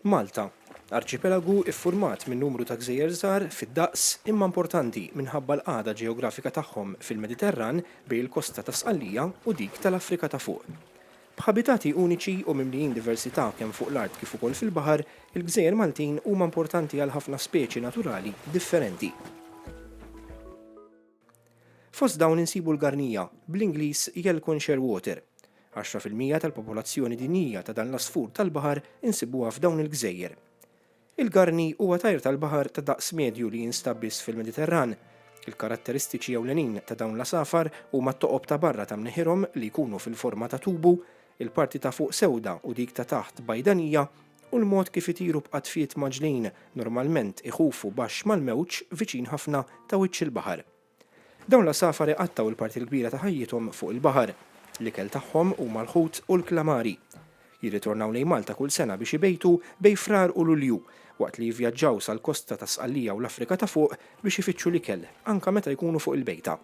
Malta, arċipelagu iffurmat minn numru ta' gżejjer żgħar fid-daqs imma importanti minħabba l-qagħda ġeografika tagħhom fil-Mediterran bejn il-kosta ta' Sqallija u dik tal-Afrika ta' Fuq. B'ħabitati uniċi u mimlijin diversità kemm fuq l-art kif ukoll fil-baħar, il-gżejjer Maltin huma importanti għal ħafna speċi naturali differenti. Fost dawn insibu l-garnija, bl-Ingliż Yelcon Shearwater. Għaxra fil-mija tal-popolazzjoni dinjija ta' dan l-għasfur tal-baħar insibuha f'dawn il-gżejjer. Il-garni huwa tajr tal-baħar ta' daqs medju li jinstab biss fil-Mediterran. Il-karatteristiċi ewlenin ta' dawn l-għasafar huma t-toqob ta' barra ta' mneħirhom li jkunu fil-forma ta' tubu, il-parti ta' fuq sewda u dik ta' taħt bajdanija, u l-mod kif itiru b'qatfiet mgħaġġlin, normalment iħufu baxx mal-mewġ viċin ħafna ta' wiċċ il-baħar. Dawn l-għasafar iqattgħu l-parti l-kbira ta' ħajjithom fuq il-baħar. L-ikel tagħhom huma l-ħut u l-klamari. Jirritornaw lejn Malta kull sena biex ibejtu bejn Frar u Lulju, waqt li jivvjaġġaw sal-kosta ta' Sqallija u l-Afrika ta' Fuq biex ifittxu l-ikel, anke meta jkunu fuq il-bejta.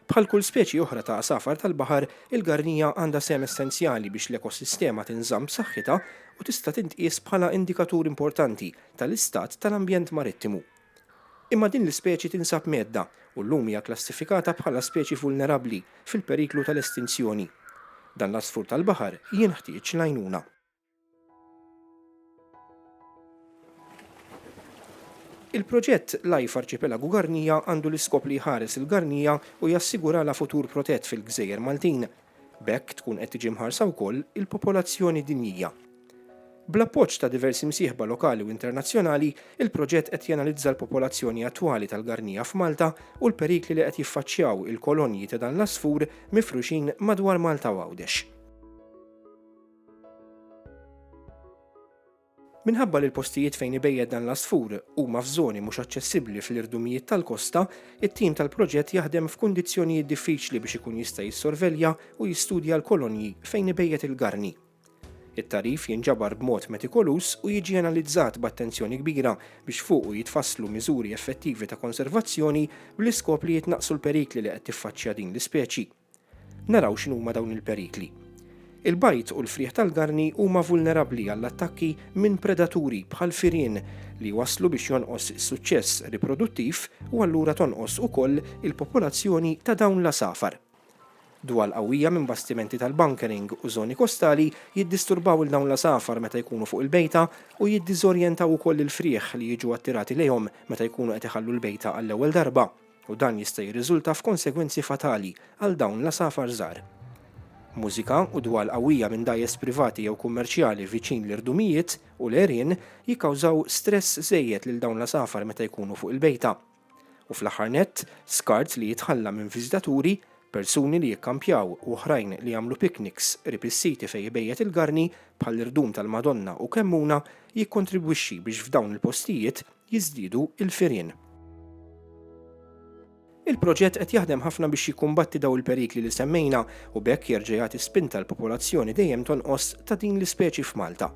Bħal kull speċi oħra ta' għasafar tal-baħar, il-garnija għandha sehem essenzjali biex l-ekosistema tinżamm b'saħħitha u tista' tintqies bħala indikatur importanti tal-istat tal-ambjent marittimu. Imma din l-ispeċi tinsab mgħedda u llum hija kklassifikata bħala speċi vulnerabbli fil-periklu tal-estinzjoni. Dan l-għasfur tal-baħar jenħtieġ l-għajnuna. Il-proġett Life Arċipelagu Garnija għandu l-iskop li jħares il-Garnija u jassiguralha futur protett fil-gżejjer Maltin. B'hekk tkun qed tiġi mħarsa wkoll il-popolazzjoni dinjija. Bl-appoġġ ta' diversi msieħba lokali u internazzjonali, il-proġett qed janalizza l-popolazzjoni attwali tal-Garnija f'Malta u l-perikli li qed jiffaċċjaw il-kolonji ta' dan l-għasfur mifruxin madwar Malta u Għawdex. Minħabba li l-postijiet fejn ibejjed dan l-għasfur huma f'żoni mhux aċċessibbli fl-irdumijiet tal-kosta, it-tim tal-proġett jaħdem f'kundizzjonijiet diffiċli biex ikun jista' jissorvelja u jistudja l-kolonji fejn ibejjet il-garni. It-tagħrif jinġabar b'mod metikoluż u jiġi analizzat b'attenzjoni kbira biex fuqu jitfasslu miżuri effettivi ta' konservazzjoni bl-iskop li jitnaqqsu l-perikli li qed tiffaċċja din l-ispeċi. Naraw x'inhuma dawn il-perikli. Il-bajd u l-frieħ tal-garni huma vulnerabbli għall-attakki minn predaturi bħal firien li jwasslu biex jonqos is-suċċess riproduttiv u allura tonqos ukoll il-popolazzjoni ta' dawn l-għasafar. Dwal qawwija minn bastimenti tal-bunkering u żoni kostali jiddisturbaw lil dawn l-għasafar meta jkunu fuq il-bejta u jiddiżorjentaw ukoll il-frieħ li jiġu attirati lejhom meta jkunu qed iħallu l-bejta għall-ewwel darba. u dan jista' jirriżulta f'konsegwenzi fatali għal dawn l-għasafar żgħar. Mużika u dwal qawwija minn dgħajjes privati jew kummerċjali viċin l-irdumijiet u l-għerien jikkawżaw stress żejjed lil dawn l-għasafar meta jkunu fuq il-bejta. U fl-aħħar nett, skart li jitħalla minn viżitaturi, persuni li jikkampjaw u oħrajn li jagħmlu pikniks qrib is-siti fejn ibejjet il-garni, bħall-irdum tal-Madonna u Kemmuna, jikkontribwixxi biex f'dawn il-postijiet jiżdiedu l-firien. Il-proġett qed jaħdem ħafna biex jikkumbatti dawn il-perikli li semmejna u b'hekk jerġa' jagħti spinta l-popolazzjoni dejjem tonqos ta' din l-ispeċi f'Malta.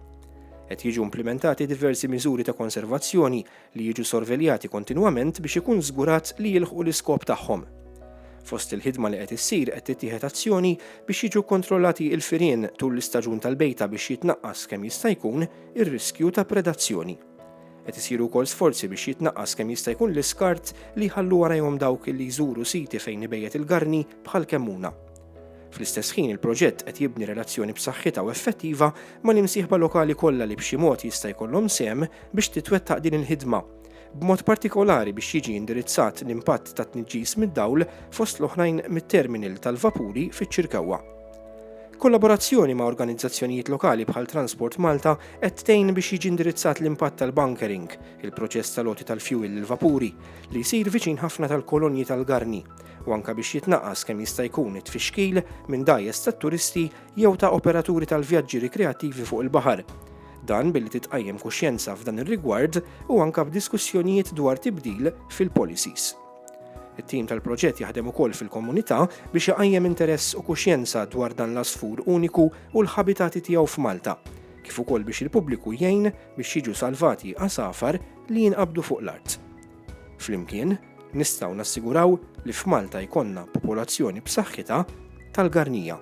Qed jiġu implimentati diversi miżuri ta' konservazzjoni li jiġu sorveljati kontinwament biex ikun żgurat li jilħqu l-iskop tagħhom. Fost il-ħidma li qed issir qed tittieħed azzjoni biex jiġu kontrollati l-firien tul l-istaġun tal-bejta biex jitnaqqas kemm jista' jkun ir-riskju ta' predazzjoni. Qed isiru wkoll sforzi biex jitnaqqas kemm jista' jkun l-iskart li jħallu warajhom dawk li jżuru siti fejn ibejjet il-garni bħal Kemmuna. Fl-istess ħin il-proġett qed jibni relazzjoni b'saħħitha u effettiva mal-imsieħba lokali kollha li b'xi mod jista' jkollhom sehem biex titwettaq din il-ħidma, b'mod partikolari biex jiġi indirizzat l-impatt tat-tniġġis mid-dawl fost l-oħrajn mit-terminal tal-vapuri fiċ-Ċirkewwa. Kollaborazzjoni ma' organizzazzjonijiet lokali bħal Transport Malta qed tgħin biex jiġi indirizzat l-impatt tal-bunkering, il-proċess tal-għoti tal-fjuwil lill-vapuri, li jsir viċin ħafna tal-kolonji tal-garni, u anke biex jitnaqqas kemm jista' jkun it-tfixkil minn dgħajjes tat-turisti jew ta' operaturi tal-vjaġġi rikreattivi fuq il-baħar. Dan billi titqajjem kuxjenza f'dan ir-rigward u anke b'diskussjonijiet dwar tibdil fil-policies. It-tim tal-proġett jaħdem ukoll fil-komunità biex iqajjem interess u kuxjenza dwar dan l-għasfur uniku u l-ħabitati tiegħu f'Malta, kif ukoll biex il-pubbliku jgħin biex jiġu salvati għasafar li jinqabdu fuq l-art. Flimkien, nistgħu nassiguraw li f'Malta jkollna popolazzjoni b'saħħitha tal-garnija.